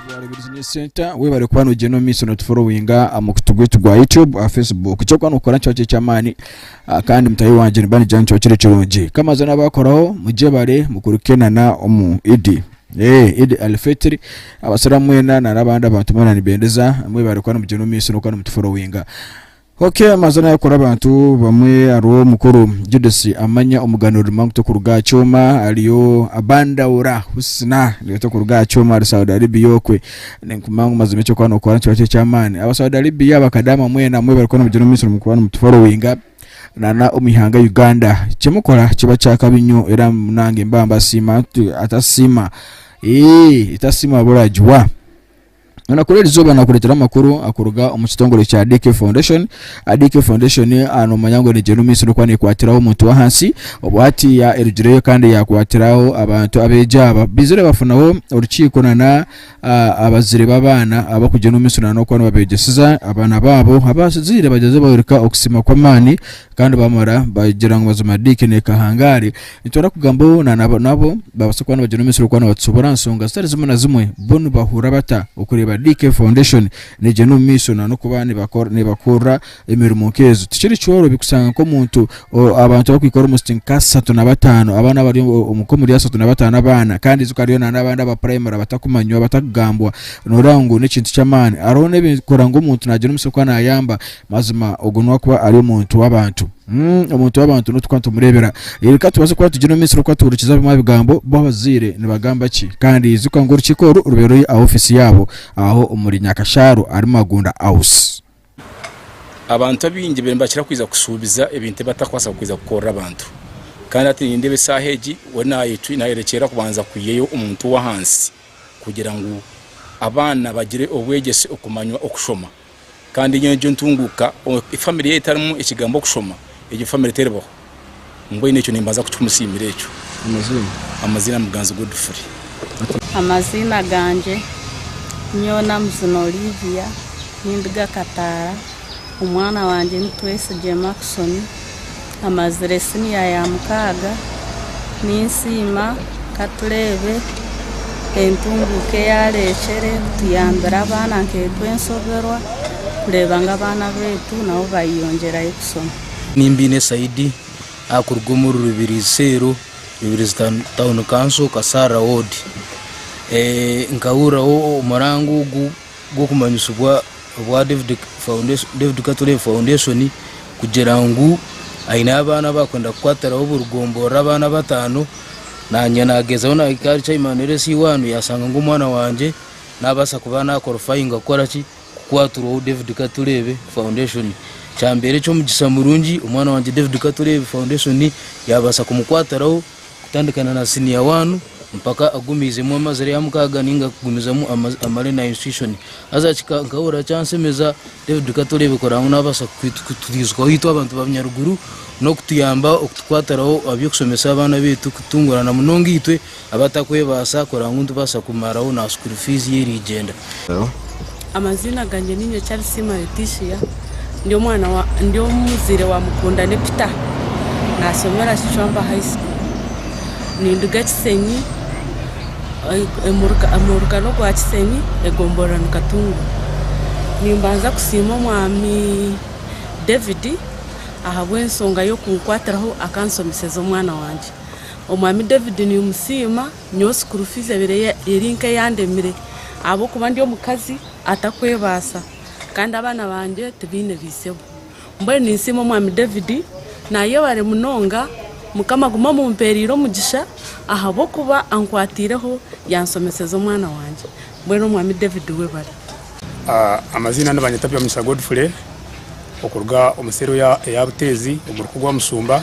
Rware Business Business Center webale kuba nogyenda omu maiso notuforowinga aha mukutu gwaitu gwa YouTube aha Facebook ekyokuba nokora nikiba kiri eky'amaani ah, kandi mutahi wangye niba nigira ngu nikiba kiri kirungi kamaze n'abaakoraho mugyebare mukurukenana omu idi Eeh Eid Al Fitri abasiiramu mwena nari abandi abantu mwena nibendeza mwebare kuba nimugyenda omu maisho n'okuba nimutuforowinga Ok amazina ay'okukora abantu bamwe hariho mukuru Judith Amanya omugano Rima ngu t'okuruga aha kyoma hariyo Abandaura Husna nawe t'okuruga aha kyoma ari Saudi Aribia okwe ninkuguma ngu mazima eky'okuba n'okora nikiba kiri eky'amaani aba Saudi Aribia bakadaama mwena mwebare kuba nimugyenda omu maisho nimukora nimutuforowinga. Nana omu ihanga Uganda kimukora kiba kyakabi nyo era munange mba mbasiima atasiima ee etasiima waba oragiwa Nana kuri erizoba nakuretera amakuru akuruga omu kitongore kya DK Foundation DK Foundation anomanya ngu negyenda omu maisho nokuba nekwatiraho omuntu wahansi obu hatiya erugireyo kandi yakwatiraho abantu abegi aba bizire bafunaho orukiiko nana Abazaire b'abaana abarikugyenda omu mishunaano okuba nibabeegyeseza abaana baabo, abazaire bagyezaho bayoreka okusiima kw'amaani kandi baamara bagira ngu mazima diikini eka ahangaare. Nitwenda kugambaho na nabo nabo baabaasa kuba nibagyenda omu misiri okuba nibatushuubura aha nshonga zitari zimwe na zimwe. Bo nibahurira bata okureeba DK Foundation neegyenda omu maisho na n'okuba neebakor neebakorera? Emirimo nk'ezo tikiri kyorobi kushanga nk'omuntu abantu abakwikara omu siti nk'asatu na bataano abaana bari nk'omuri asatu na bataano abaana kandi ijuka hariyo na n'abandi aba primary abatakumanywa abatakugambwa nooreeba ngu n'ekintu ky'amaani hariho n'ebikora ngu omuntu naagira omutsyo kuba naayamba mazima ogwo nuwe akuba ari omuntu w'abantu omuntu w'abantu n'otu kuba nitumureebera reero ka tubaase kuba nitugira omumisiri kuba tworokize bimwe aha bigambo bo abazaire nibagamba ki kandi ijuka ngu orukiiko oru rubaire ruri aha ofiisi yaabo aho omuri Nyakashaaro ahari Magunda house. Abantu abaingi bariyo nibakira kwija kushuubiza ebintu ebi batarikubaasa kwija kukorera abantu. Kandi hati nindeeba eshaaha egi we nayerekyera kubanza kwihayo omuntu ow'ahansi kugira ngu abaana bagire obwegyese okumanya okushoma. Kandi nyowe egyo ntunguuka, famire yaaba etarimu ekigambo kushoma, egyo famire teribaho. Mbwenu ekyo nimbanza kuki kumusiimira ekyo? Amaziina. Amaziina Muganzi Godfrey. Amaziina gangye nyowe Namuzina Olivia ninduga Kataara. Omwana wangye ni Twesigye Markson. Amazire siniya ya mukaaga. Ninsiima Katureebe entunguuka eyareekyere kutuyambira abaana nk'etwe enshoberwa kureeba ngu abaana baitu nabo bayeyongyerayo kusoma. Nimba aine saidi arikuruga omuri Rubirizi Seero, Rubirizi Town Council, Kasaarira Ward. Nkahuriraho omurango ogu gw'okumanyisibwa obwa David Katore Foundation kugira ngu aine abaana abu arikwenda kukwatiraho oburigomborora abaana bataano, naanye naagyezaho naahika ahari Chairman LC1 yaashanga ngu omwana wangye naabaasa kuba naakorofayinga kukora ki? kukwatirwaho David Katureebe Foundation. Kyambeera eky'omugisha murungi omwana wangye David Katureebe Foundation yaabaasa kumukwatiraho kutandikana na siniya waanu mpaka agumiizemu amazire ya mukaaga ninga kugumizamu amare na institution. Haza nkahurira kyansemeza David Katureebe kuranga ngu naabaasa kutwijukaho itwe abantu ba Bunyaruguru n'okutuyamba okutukwatiraho aby'okushomesa abaana baitu kutungurana munonga itwe abatakwebaasa kureba ngu nitubaasa kumaraho na school fees y'erigyenda. Amaziina gangye ni Nyokyarisiimwa Leticia, ndi omwana wa ndi omuzaire wa Mukundane Peter, naashomera Kicwamba High School. Ninduga Kisenyi omu rugari orwa Kisenyi egomborora ni Katunguru. Nimbanza kusiima omwami David ahabw'enshonga y'okunkwatiraho akanshomeseza omwana wangye. Omwami David nimusiima, nyowe sikuuru fiizi ebaire eri nk'eyandemire ahabw'okuba ndi omukazi atarikwebaasa kandi abaana bangye tibaine baishebo. Mbwenu ninsiima Omwami David, naayebare munonga, Mukama agume amumpeereire omugisha ahabw'okuba ankwatiireho yaanshomeseza omwana wangye. Mbwenu Omwami David webare. Amaziina nibanyeta Byomisa Godfrey, okuruga omu seero eya Buteezi omu ruku rwa Mushumba,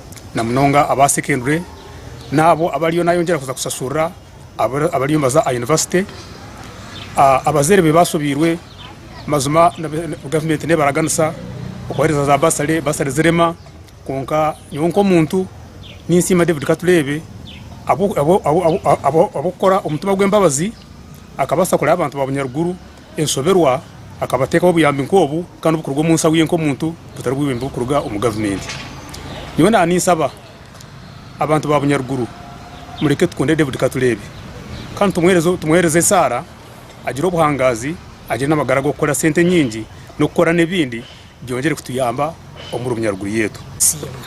na munonga aba secondary n'abo abariyo nayongyera kuza kushashurira abariyo nibaza aha yunivasite. Abazaire be bashobeirwe mazima gavumenti neeba araganisa okubahereza za basare, basare zirema kwonka nyowe nk'omuntu ninsiima David Katureebe ahabw'okukora omutima gw'embabazi akabaasa kureba abantu ba bunyaruguru. Enshoberwa, akaba ateekaho obuyambi nk'obu kandi obukuruga omu nsau ye nk'omuntu butari bwibembe bukuruga omu gavumenti. Nyowe na ninsaba abantu ba Bunyaruguru mureke tukunde David Katureebe kandi tumwehereze esaara agire obuhangaazi agire n'amagara g'okukora sente nyingi n'okukora n'ebindi Byongyere kutuyamba omu rumya ruguru yetu. Siima.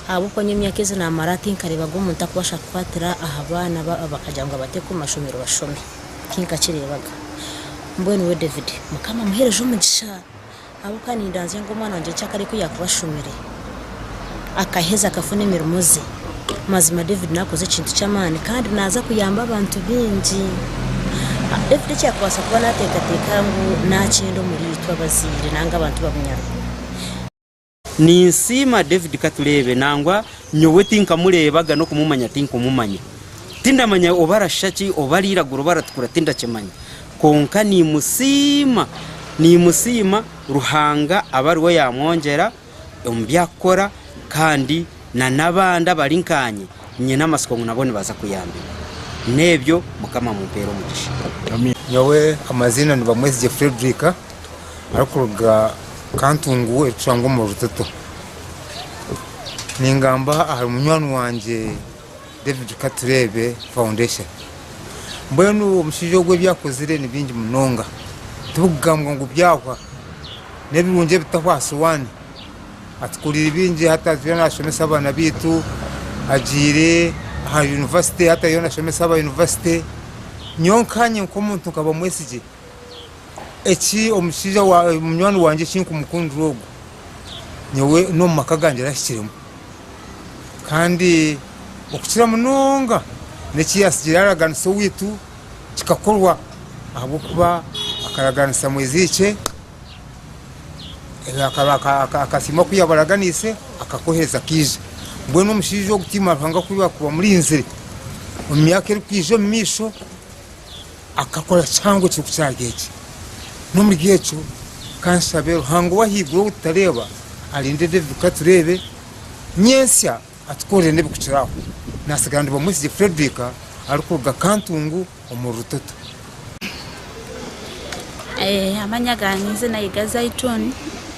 Ahabw'okuba nyowe emyaka ezi naamara tinkareeba gye omuntu arikubaasa kukwatira aha baana ba abakagira ngu abateeke omu mashomero bashome. Tinkakireebaga. Mbwenu we David, Mukama amuheereze omugisha. Ahabw'okuba nindaanzya ngu omwana wangye nikyo akaba ari ku yaakuba ashomire. akaheza akafuna emirimo ze mazima David nakoze ekintu kyamaani kandi naza kuyamba abantu bingi David ekyakubasa kuba natekateka ngu nakyenda omuritwe abazaire nanga abantu babunyaruho Ninsiima David katureebe nangwa nyowe tinkamureebaga n'okumumanya tinkumumanya tindamanya oba arashisha ki oba ariragura oba aratukura tindakimanya kwonka nimusiima nimusiima Ruhanga abe ariwe yamwongyera omu bi arikukora kandi n'abandi abari nkanye nyine amatsiko ngu nabo nibaza kuyambibwa. N'ebyo, Mukama amumpeere omugisha. Nyowe amaziina ni Bamwezigye Fredrick arikuruga Kantungu erikushangwa omu Rutoto. Ningamba ahari munywani wangye. David Katureebe Foundation. Mbwenu omushaija ogu ebi akozire ni bingi munonga, tibikugambwa ngu byahwa, n'ebirungi ebitahwa aha sowaani. Atukoreire bingi hati agira naashomesa abaana baitu, agiire aha yunivasite hati ariyo naashomesa aba yunivasite. Nyowe nkanye nk'omuntu nkaba mwesigye. eki omushaija munywani wangye eki nkumukundira ogu nyowe n'omu maka gangye arahikiremu kandi okukira munonga n'eki yaasigire yaaraganisa owaitu kikakorwa ahabw'okuba akaraganisa mwezi ikye akasiima ku yaabaraganiise akakoheeza kaija mbwenu omushaija ogu tiimanya Ruhanga ku arikuba amurinzire omu myaka erikwija omu maisho Akakora kihango ekirikukyarya eki. N'omuri ekyo, ka nshabe Ruhanga ow'ahaiguru ou tutareeba arinde David kuhika tureebe nyentsya atukorere n'ebikukira aho. Naatsigara ndi Bamwesigye Fredrick arikuruga Kantungu omuri Rutoto. Amanya gange, eiziina Yiga Zaituni.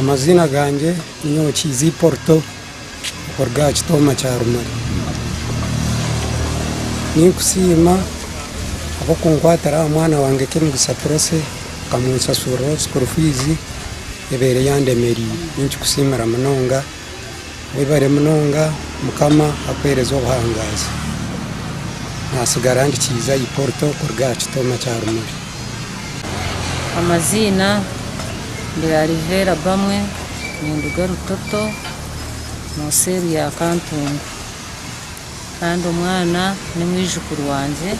Amaziina gangye ninyowe Kiizi Porto okuruga aha kitooma kya Rumari. Ninkusiima ahabw'okunkwatira aha mwana wangye Kemigisha Prossy okamunsashuuriraho sikuuru fiizi ebaire yandemereire. Ninkikusiimira munonga. Webare munonga mukama akuhereze obuhangazi natsigara ndikiize ayi porto kuruga aha kitooma kya rumuri. Amaziina ndi Alivera Bamwe ninduga Rutoto mu cell ya Kantungu kandi omwana ni mwijukuru wangye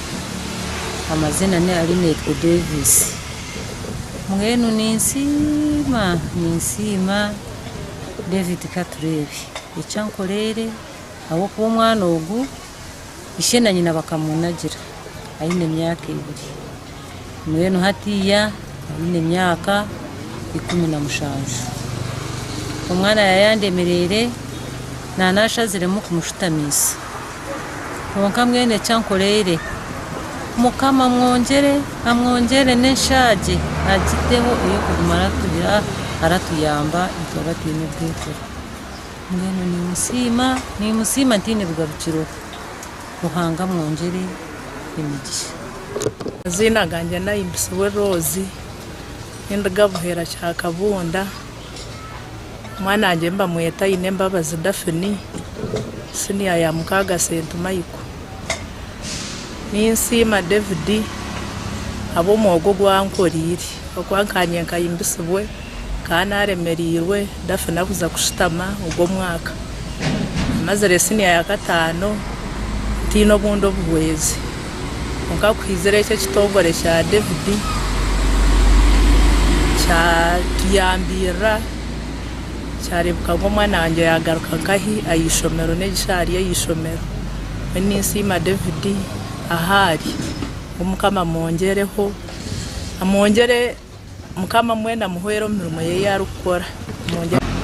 amaziina ni Alinetwe Davis mbwenu ninsiima ninsiima. David katureebe eki ankoreire ahabw'okuba omwana ogu ishe na nyina bakamunagira aine emyaka ebiri. Mbwenu hatiiya aine emyaka ikumi na mushanju. Omwana yaayandemeriire, naanashaziremu kumushutamiisa. Kwonka mbwenu eki ankoreire. Mukama amwongyere, amwongyere n'enshaagye agiteho ey'okuguma aratugira, aratuyamba itwe abataine bwehurwa. Mbwenu nimusiima, nimusiima ntaine bigarukiro. Ruhanga amwongyere emigisha. Amaziina gangye nayimbisibwe Rose, ninduga Buheera Kyakabunda. Omwana wangye nibamweta Ainembabazi Daphine, siniya ya mukaaga Sentumaiko. Ninsiima David ahabw'omwogo ogu ankoreire, oku akangye nkahimbisibwe nkaba naaremereirwe, Daphine abuza kushutama ogwo omwaka. Mazire siniya ya kataano ntaine obundi obuhwezi. Kwonka kuhitsire ekyo ekitongore kya David kyatuyambirira kyarebuka ngu omwana wangye yagaruka nkahi ah'eishomero negi shi ari ah'eishomero. Nyowe ninsiima David ahu ari. Ngu Mukama amwongyereho, amwongyere, Mukama mbwenu amuhwere omu mirimo ye ei arikukora.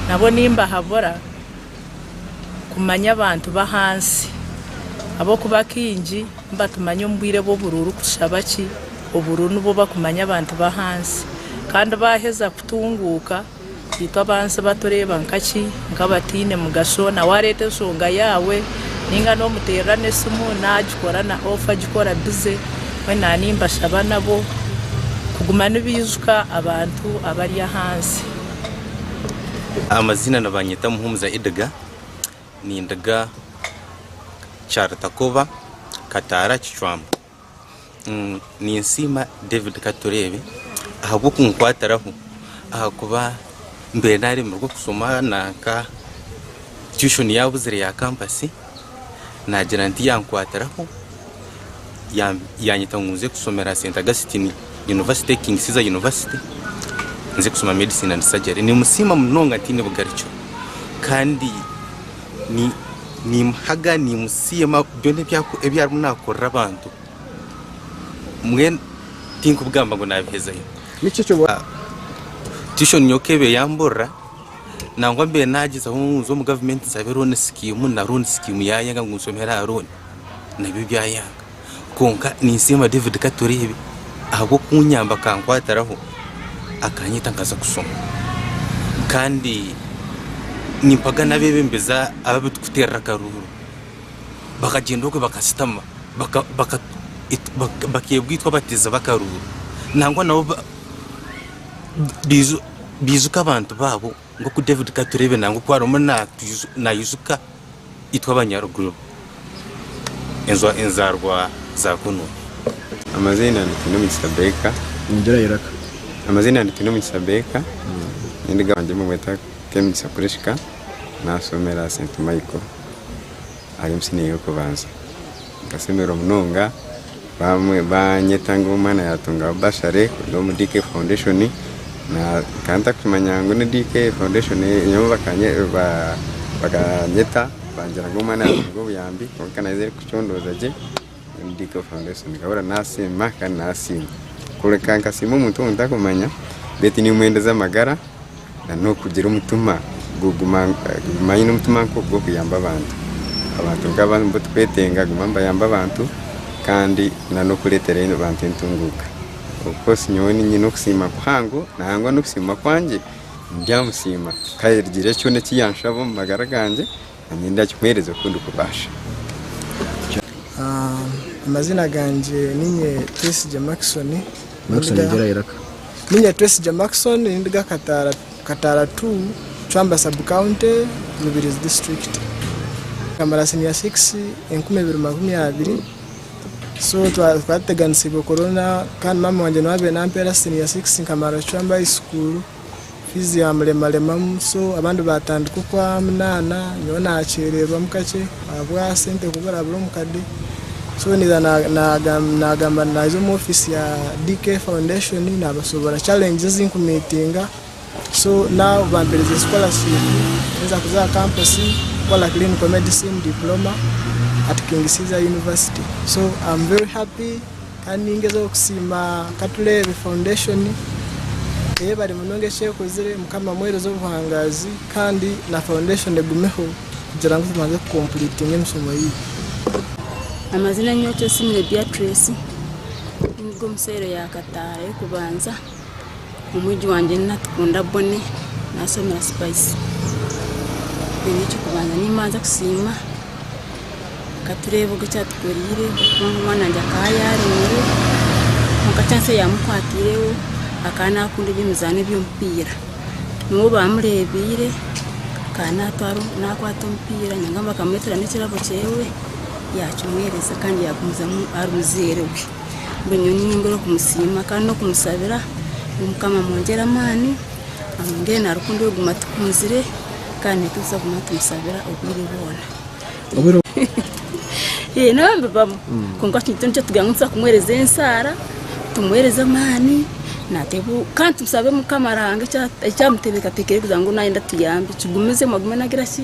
Nabwo nimbahabura. kumanya abantu b'ahansi ahabw'okuba kaingi nibatumanya omu bwire bw'oburuha orikutushaba ki oburuha nibwo bakumanya abantu b'ahansi kandi baaheza kutunguuka itwe ab'ahansi batureeba nkaki nk'abataine mugasho na waareeta enshonga yaawe nainga n'omuteerera n'esimu naagikora na off agikora busy mbwenu naaba nimbashaba nabo kuguma nibaijuka abantu abari ahansi. Amazina nibanyeta Muhumuza Edgar ninduga Kyarutakoba Kataara Kicwamba ninsiima David Katureebe ahabw'okunkwatiraho ahakuba mbaire naremererwa okusoma nanka tuition yabuzire ya kampasi. nagira nti yankwatiraho yanyeta ngu nze kusomera St Augustine University e King Caesar University nze kusoma medicine and surgery nimusiima munonga ntaine bugarikyo kandi nimuhaga nimusiima byona ebi arimu nakorera abantu mbwenu tinkubigamba ngu nabihezayo tuition nyowe ku ebe yamburira Nangwa mbaire nagyezaho ngu nze omu gavumenti nsabe looni sikiimu na looni sikiimu yayanga ngu nshomere aha looni nabyo byayanga kwonka ninsiima David Katureebe ahabw'okunyamba akankwatiraho akanyeta nkaza kushoma kandi nimpaga n'abeebembezi ababi turikuteerera akaruuru bakagyenda okwe bakashutama baka- baka- it- baka- bakeebwa itwe abateezi b'akaruuru nangwa nabo ba- baijo Baijuka abantu baabo nk'oku David Katureebe nangwa oku arimu naijuka itwe Abanyaruguru, enzaarwa za kunu. Amaziina ni Twinemigisha Baker. Ningira iraka. Amaziina ni Twinemigisha Baker, nyowe gabangye nimumweta Kemigisha Prisca, naashomera St Michael ahari omu siniya y'okubanza. Nkashemererwa munonga banyeta ngu omwana yatungaho bursary kuruga omu DK foundation nkaba ntarikukimanya ngu ni DK foundation nyowe bakanyeta bangira ngu omwana yatunga obuyambi kwonka naija erikucondooza gye ngu ni DK foundation nkahurira nasiima kandi nasiima kureka nkasiima omuntu ou ntarikumanya beitu nimwendeza amagara. N'okugira omutima guguma aine omutima nk'ogw'okuyamba abantu. Abantu nk'abo nibo turikwetenga kuguma nibayamba abantu kandi n'okureetera abantu entunguuka. Ofukoosi nyowe nyine okusiima kuhango, nangwa n'okusiima kwangye ndi aha musiima. Kandi hagira kyona eki yaanshaba omu magara gangye. Nanye ndakikuhereza oku ndikubaasa. Amazina gangye ninye Twesigye Markson. Markson gyera iraka. Ninye Twesigye Markson nindi ga Kataara Kataara two, Chwamba sub county, Rubirizi district. Nkamara senior six enkumi ibiri makumi abiri so twaba twaba tuteganisiibwe corona kandi maama wangye niwe abaire nampeera senior six nkamara Chwamba high school. fiizi yaamuremaremamu so abandi baatandika okwaminaana nyowe naakyererwamu kakye ahabwa sente kuburabura omukade so naija naagamba ngu naaza omu ofiisi ya DK foundation naabashoboorora challenges ezi nkumiitinga so now bampereze scholarship ninza kuza aha kampusi kukora clinical medicine diploma at King Caesar university so am very happy. Kandi ningezaho kusiima Katureebe Foundation eyebare munonga ekyekozire mukama amuhereze obuhangazi kandi na foundation egumeho kugira ngu tubanze ku completinga emisomo yaitu. Amazina Nyokyesiimire Beatrice, ninduga omu cell ya Kataara ey'okubanza. Omwegi wangye ni Natukunda Bonnie nashomeera Spice. Nyowe ekyokubanza nimbanza kusiima katureebe ogwe ekyatukoreire kubanga omwana wangye akaba yaremire kwonka chance eyamukwatireho akaba nakunda ebyemizaano ebyomupiira niwe obamurebiire akaba natwara nakwata omupiira nangamba bakamuretera nekirabo kyewe yakimuhereza kandi yagumizamu ari muzeire we. Mbwenu nyowe niinyongera okumusiima kandi n'okumusabira ngu Mukama amwongyere amaani, amwongyere na rukundo y'okuguma atukunzire kandi naitwe tuze kuguma nitumusabira obwire bwona. Hee nabyo nibibamu kwonka eki nikyo nikitugira ngu nituza kumuheereza enshara, tumuheereze amaani naateeb- kandi tusabe Mukama Ruhanga eki- eki amuteekateekire kugira ngu naayenda atuyambe kigumiizemu agume nagira ki?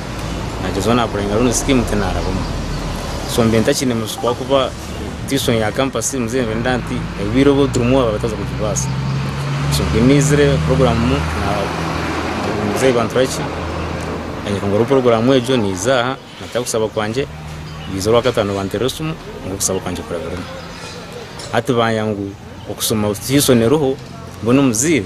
nagyezaho nakurenga rundi scheme ti narabamu so mbiire ntakine mushuko ahakuba tuition ya campus muzire nibarinda nti obwiire obu turimu aba bataza kugibaasa so mbwenu nizire program na- muzeyi banturaki nanyereka ngu hariho program egyo niiza aha nataho kusaba kwangye biija orwakatano banteera esimu ngu okusaba kwangye kurabiremu hati baya ngu okusoma tuition eriho mbwenu omuzeire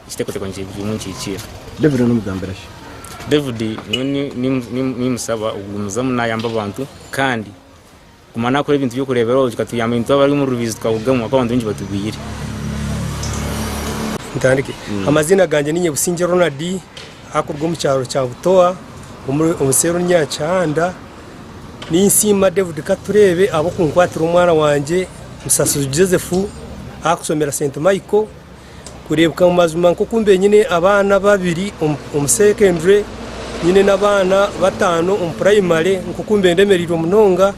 Ekiteekateeko nikigumu nikihikiirira. David n'omugambira ki? David, Nyowe nimusaba okugumizamu naayamba abantu kandi kuguma naakora ebintu by'okureeberaho kikatuyamba itwe abari omu rubiizi tukarugamu ahabw'okuba abantu baingi batugwire. Ntandike. Amaziina gangye niinye Busingye Ronald arikuruga omu kyaro kya Butoa omu seeri Runyaanya Kihanda. Ninsiima David Katureebe ahabw'okunkwatira omwana wangye Musasizi Joseph arikushomera St Michael kureebeka ngu mazima nk'oku mbaire nyine abaana babiri omu secondary, nyine n'abaana bataano omu puraimare, nk'oku mbaire ndemereirwe munonga,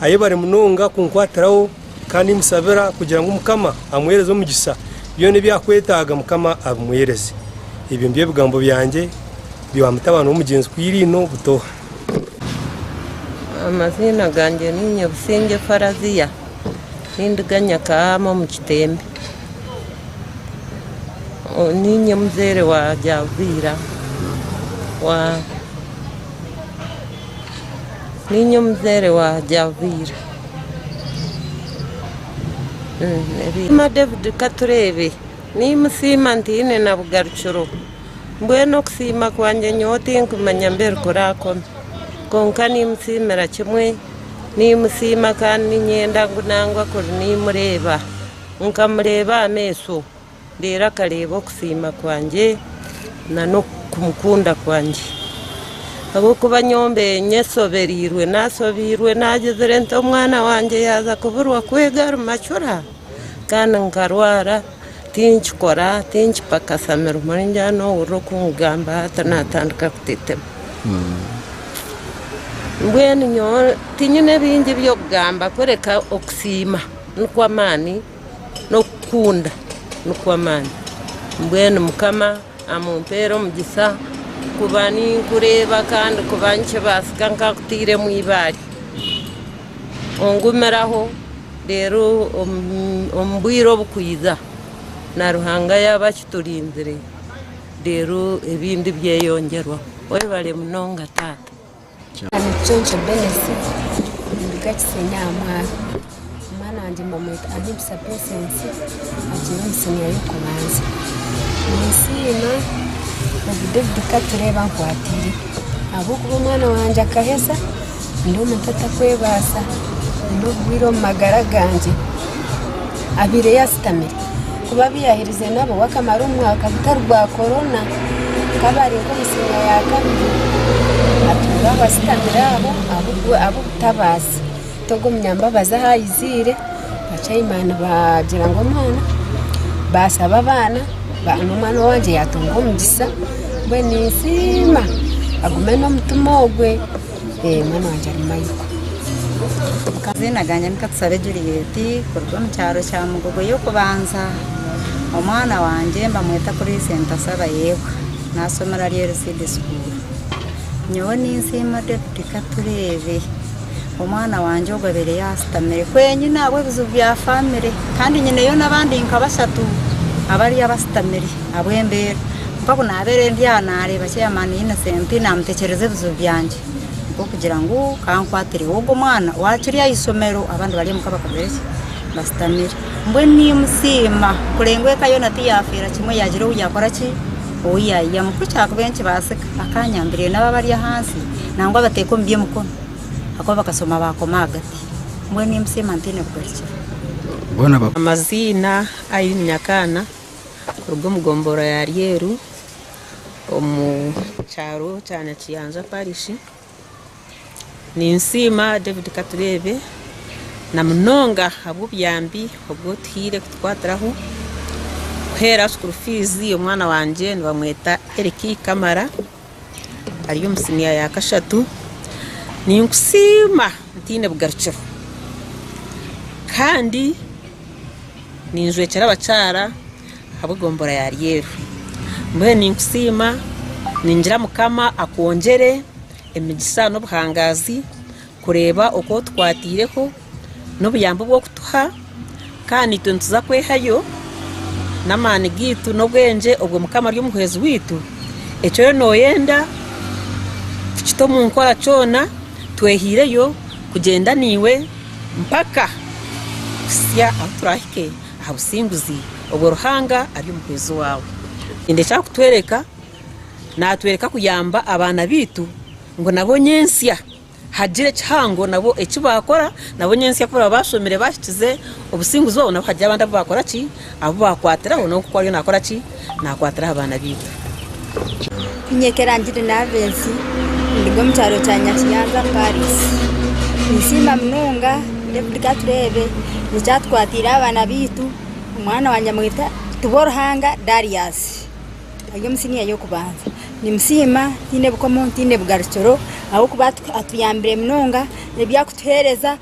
ahi bari munonga kunkwatiraho kandi nimushabira kugira ngu Mukama amuheereze omugisa, byona ebi arikwetaaga Mukama abimuheereze. Ebyo nibyo bigambo byangye bya mutabani w'omugyenzi Kwiririno Butoha. Amaziina gangye niinye Busingye Faraziya ninduga Nyakahaama omu Kitembe niinye muzeire wa Ryarubaira wa niinye omuzeire wa Ryarubaira David Katureebe nimusiima ntiine na bugarukiro. Mbwenu okusiima kwangye nyowe tinkumanya mbeeri kuraakome. Kwonka niimusiimira kimwe, niimusiima kandi niinyenda ngu nangwa kuri niimureeba, nkamureeba aha maisho, reero akareeba okusiima kwangye na n'okumukunda kwangye. Ahabw'okuba nyowe mbeire nyeshobereirwe, naashobeirwe, naagyezire nti omwana wangye yaaza kuburwa kwega ari macura, kandi nkarwara. tinkikora tinkipakasa mirimo ei ngira n'ohurira okungamba hati natandika kutetema mbwenu nyowe tinyine bingi by'okugamba kureka okusiima nikwo amaani n'okukunda nikwo amaani mbwenu mukama amumpeere omugisa kuba ninkureeba kandi kuba nikibaasika nkakutairemu eibaare ongumiraho. Reero omu bwire obukwija, na Ruhanga yaaba akiturinzire, reero ebindi byeyongyerwaho. Webare munonga Taata. Nikicwekye Dennis ninduga Kisenyi aha mwaaro. Omwana wangye mbamweta Ahimsa Patience agyire omu siniya y'okubanza. Ninsiima Rev David Katureebe ankwatiireho ahabw'okuba omwana wangye akaheza. Ndi omuntu atarikwebaasa, nyine oburwaire omu magara gangye. Abaire yaasitamire kuba abu yaaherize nabo wakamara omwaka gutari gwa korona, nkaba ari nk'omutsigazi wa kabiri atunga aho asitamire aho ahabw'obutabaazi. Hati ogwo munyambabazi ahu aiziire Abacaimani baagira ngu omwana baashaba abaana n'omwana wangye yaatunga omugisha mbwenu ninsiima agume n'omutima ogwe omwana wangye ari mayiga amaziina gangye ni Katusabe Juliet kuruga omu kyaro kya Mugogo y'okubanza omwana wangye nibamweta Puriisi Ntashaaba Yebwa naashomera Lyeru Seed School nyowe ninsiima Deputy Katureebe Omwana wangye ogwo abaire yaashutamire kwenyine ahabw'ebizibu bya famire kandi nyineyo n'abandi nka bashatu abari abashutamire ahabw'embeera kwonka ku naabaire ndi aha naareeba chairman Innocent naamutekyereza ebizibu byangye nikwo kugira ngu ka nkwatireho ogwo mwana waakiri aha ishomero abandi bari omuka bakagira ki bashutamire. Mbwenu nimusiima kureeba ngu eka yoona tiyaafiira kimwe yaagira ou yaakora ki ou yaaiyamu ku kyakubaire nikibaasika. bakanyambire nabo abari ahansi nangwa abateeka omu by'emikono ahakuba bakashoma baakoma ahagati mbwenu ei musima ntaine kugarukira. Amaziina, Irene Nyakaana kuruga omu gombora ya Ryeru omu kyaro kya Nyakiyanja parish. Ninsiima David Katureebe na munonga ahabw'obuyambi obu otuhaire kutukwatiraho kuheera sukuru fiizi omwana wangye nibamweta Eric Kamara ari omu siniya ya kashatu ninkusiima ntaine bugarukiro kandi ninjwekyera abakyara Ahabw'egombora ya Lyeru. Mbwenu ninkusiima, ningira Mukama akwongyere emigisa n'obuhangaazi kureeba oku otukwataireho n'obuyambi obu orikutuha kandi naitwe nituza kwehayo n'amaani gaitu n'obwengye obwo Mukama ari omuhwezi waitu, eki oriyo nooyenda kukita omu nkora kyona, twehaireyo kugyenda naiwe mpaka kuhitsya ahu turaahike. aha businguzi obwo Ruhanga ari omuheereza owaawe. Ekindi eki arikutworeka, naatworeka kuyamba abaana baitu ngu nabo nyentsya haagira ekihango nabo eki baakora, nabo nyentsya ku baraba baashomire baahikize obusinguzi obwo, nabo haagira abandi abu baakora ki? Abu baakwatiraho, nabo nk'oku ariyo naakora ki? naakwatira aha baana baitu. Nyekyera ngiri Navensi, ninduga omu kyaro kya Nyakiyanza Paris. Ninsiima munonga David Katureebe ngu kyatukwatiire aha baana baitu, omwana wangye amweta Tibworuhanga Darius, ari omu siniya y'okubanza. Nimusiima ntaine bukomo ntaine bugarukiro ahabw'okuba atuyambire munonga n'ebi arikutuheereza.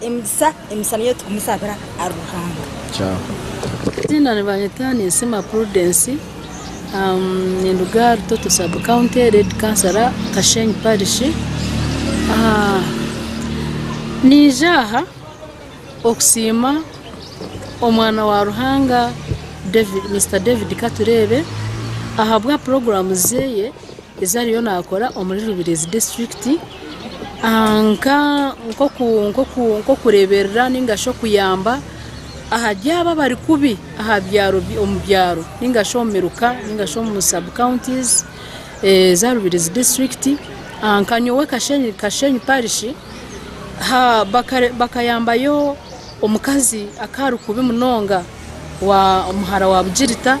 Emigisa emisa niyo tukumusabira ahari Ruhanga. Kyaho. Eiziina nibanyeta Ninsiima Prudence, ninduga ahari Toto Sub County Lady Councillor Kashenyi Parish. Niija aha okusiima omwana wa Ruhanga David Mister David Katureebe ahabwa puroguramu zeeye. Ezi ariyo naakora omuri Rubirizi disiturikiti nk'okureeberera nainga shi okuyamba ahari abo abari kubi omu byaro nainga shi omu miruka nainga shi omu sabu kawuntizi eza Rubirizi disiturikiti. Nka nyowe Kashenyi parishi bakayambayo Omukazi akaba ari kubi munonga wa omuhara wa Bugirita,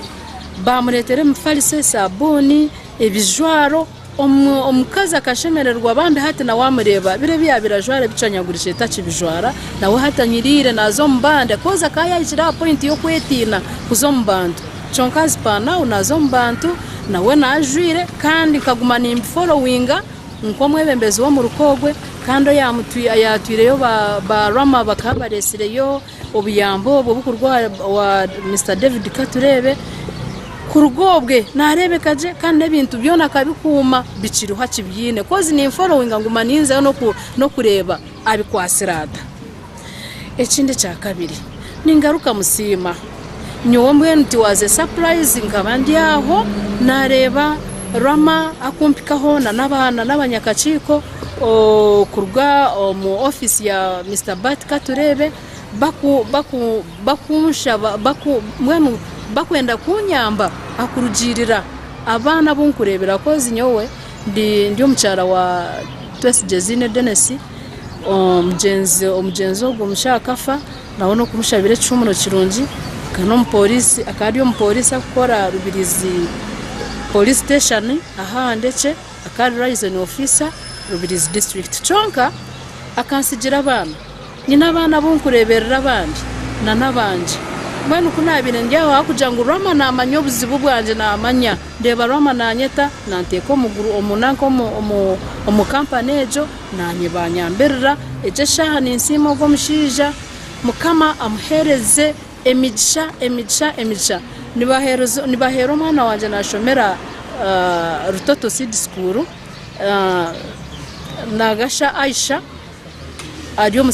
baamureetera emifaliso, esaabuuni, ebijwaro. Omu, omukazi akashemererwa bambi hati nawe amureeba biri ebi yaabaire ajwara ebicwanyagurizire takibijwara, nawe hati anyiriire naaza omu bandi coz akaba yaahikire aha point y'okwetiina kuza omu bantu. Kyonka as per now naaza omu bantu, nawe nawe ajwire kandi nkaguma nimbifolowinga. nk'omwebembezi w'omuruka ogwe kandi oyatwireyo ba Rama bakaba baresireyo obuyambi obwo obukuruga owa Mister David Katureebe kuruga obwe narebeka gye kandi n'ebintu byona akabikuuma bikiriho akibyiine kozi ninforowinga nguma ninzayo n'okureeba abikwatsire ata. Ekindi ekya kabiri ningaruka musiima nyowe mbwenu ti waaze sapurayizi nkaba ndi aho naareeba Rama akumpikaho nana abanyakakiiko kuruga omu ofiisi ya Misita Bart Katureebe bakunshaba mbwenu bakwenda kunyamba aha kurugiirira abaana abu nkureebera kozi nyowe ndi omukyara wa Twesigye Ziine Denesi. omugyenzi ogwo omukyara akafa nawe nokumushabira ekihumuro kirungi akaba ari omuporisi arikukora aha rubirizi porisi siteshoni ahu ahanekye akaba ari rayizoni ofisa rubirizi disiturikiti kwonka akantsigira abaana nyine abaana abu ndikureberera abandi nana abangye mbwenu ku nabaire ndi aho ahabwokugira ngu rama namanya obuzibu bwangye namanya Ndeeba Rwama naanyeta, naanteeka omuguru omu nanka omu omu omu kampani egyo, naanye baanyambirira. Egyo eshaaha ninsiima ogwo omushaija, Mukama amuheereze emigisha, emigisha, emigisha. Nibaheereza nibaheera omwana wangye naashomera Rutoto Seed School, Nagasha Aisha. ari omu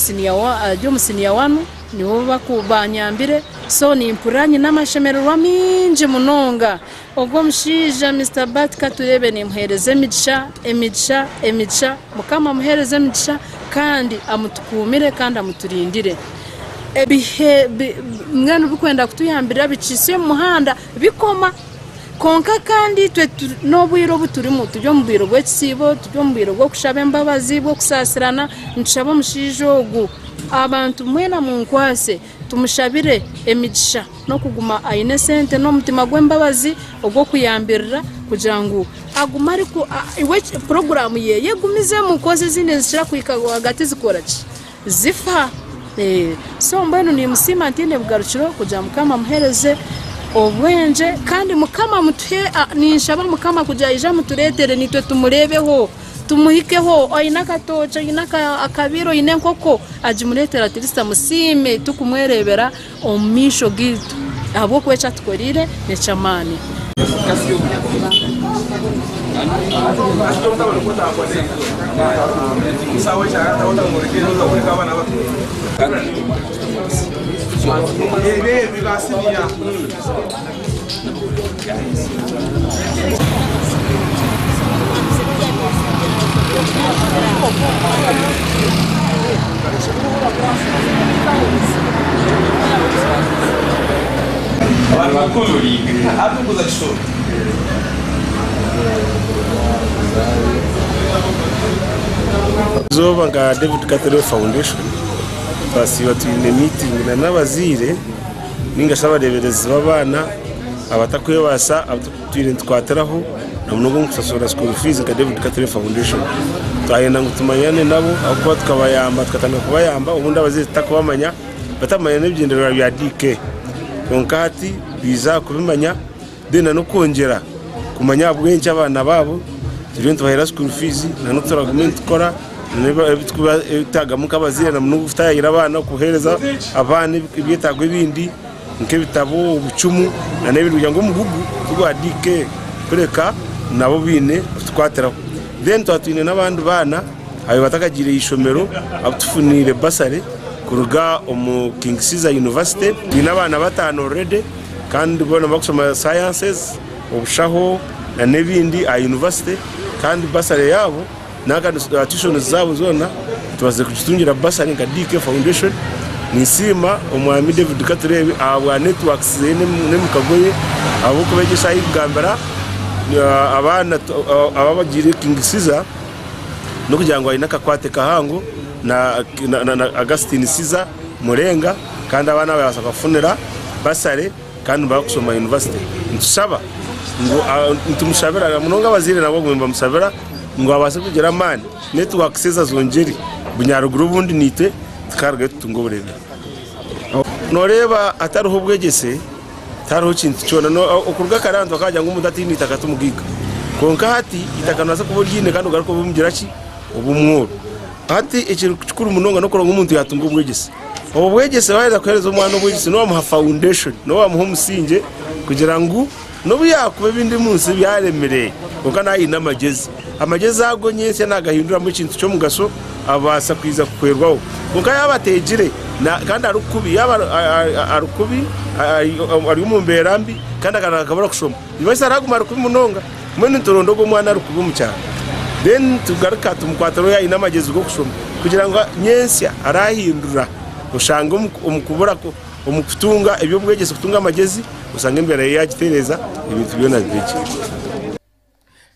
siniya wanu nibo banyambire so nimpurira nyine amashemererwa mingi munonga ogu omushaija Mister Bart Katureebe nimuhereza emigisha emigisha emigisha mukama amuhereze emigisha kandi amutukuumire kandi amuturindire ebihe mbwenu bikwenda kutuyambira bikisye omu muhanda Bikoma. Kwonka kandi itwe n'obwire obu turimu, turi omu bwire bw'ekisiibo, turi omu bwire bw'okushaba embabazi, bw'okusaasirana, nitushaba omushaija ogu abantu mwena munkwatse tumushabire emigisha n'okuguma aine esente n'omutima gw'embabazi ogw'okuyambirira kugira ngu agume ari, puroguraamu ye egume izemu, kozi ezindi nizikira kuhika rwagati zikora ki? Zifa ee so mbwenu nimusiima ntaine bugarukiro kugira mukama amuhereze obwengye kandi mukama amutuhe ninshaba mukama kugira aije amuturetere nitwe tumurebeho tumuhikeho oyine akatookye oyine akabiira oyine enkoko agimuretere at least amusiime tukumwerebera. Omu maisho gaitu, ahabw'okuba eki atukoreire n'eky'amaani. Eizooba nka David Catherine Foundation twasiiba twine miitingi n'abazaire nainga shi abareeberezi b'abaana abatarikwebaasa abu twabaire nitukwatiraho na munonga omu kushashura school fees nka David Katare Foundation. Twayenda ngu tumanyane nabo ahabw'okuba tukabayamba tukatandika kubayamba obundi abazaire tutarikubamanya batamanya n'ebigyendererwa bya DK. Kwonka hati baija aha kubimanya. Then n'okwongyera kumanya ahabw'enki abaana baabo turiyo nitubaheera school fees na n'oku turagume nitukora n'ebitwetagamu nk'abazaire na munonga okutaayaayira abaana kuheereza abaana ebyetaago ebindi nk'ebitabo, obucumu na n'ebindi kugira ngu omugugu tigwa DK kureka nabo baine kutukwatiraho. Then twaba twine n'abandi baana abu batakagiire aha ishomero abu tufuniire bursary kuruga omu King Caesar University. Twine abaana bataano already. Kandi boona nibakushoma sciences, obushaho na n'ebindi aha university kandi bursary yaabo nanka tuitions zaabo zoona tubaziire kugitungira bursary nka DK foundation. Ninsiima omwami David Katureebe ahabwa networks zeye n'emikago ye ahabw'okuba egi eshaaha eyikugambira abaana aba abagiire King Caesar n'okugira ngu aine akakwate kahango na Augustine Caesar Murenga. kandi abaana babaasa kubafunira basare kandi nibaba kushoma yunivasite nitushaba ngu nitumushabira munonga abazaire nabo bagume nibamushabira ngu abaase kugira amaani naitwe twakasheeza ezo ngyeri bunyaruguru obundi naitwe tukarugayo tutunge oburemeezi nooreeba hatariho obwegyese tihariho kintu kyona okuruga kare abantu bakaagira ngu omuntu ataine itaka timugaiga kwonka hati itaka noobaasa kuba oryine kandi ogaruke obe omugira ki obe omworo hati ekiri kikuru munonga n'okureeba ngu omuntu yaatunga obwegyese Obwo bwegyese wayenda kuhereza omwana obwegyese nobamuha foundation nobamuha omusingye kugira ngu nobuyakuba ebindi omunsi byaremire kwonka naaba aine amagyezi amagyezi ago nyentsya nagahinduramu ekintu kyomugasho abaasa kwija kuhwerwaho kwonka yaaba ategire kandi ari kubi yaaba ari kubi ari omumbeera mbi kandi akaba ari kushoma Nibaisa araguma ari kubi munonga mbwenu nituronda ogu omwana ari kubi omu kyaro then nitugaruka tumukwata ori oyine amagezi g'okushoma kugira ngu nyentsya arahindura oshange omu kubura omu kutunga eby'obwegyese kutunga amagezi oshange embeera ye yagitereeza ebintu byona bibe gye.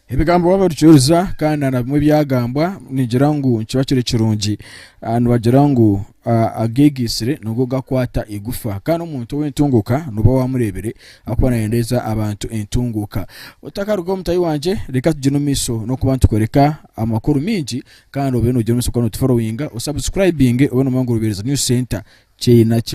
Ebigambo waaba orikyoruza kandi na bimwe ebyagambwa nigira ngu nikiba kiri kirungi. Ah, nibagira ngu ah, ageegaitsire nigo gakwata eigufa kandi omuntu ow'entunguuka nooba waamureebire ahakuba naayendeeza abantu entunguuka. Otakarugaho mutahi wangye reka tugyende omu maisho n'okuba nitukoreka amakuru maingi kandi obe noogyenda omu maisho kuba nootuforowinga osabusikurayibinge obe noomanya ngu Rubeereza News Centre kyeye naki.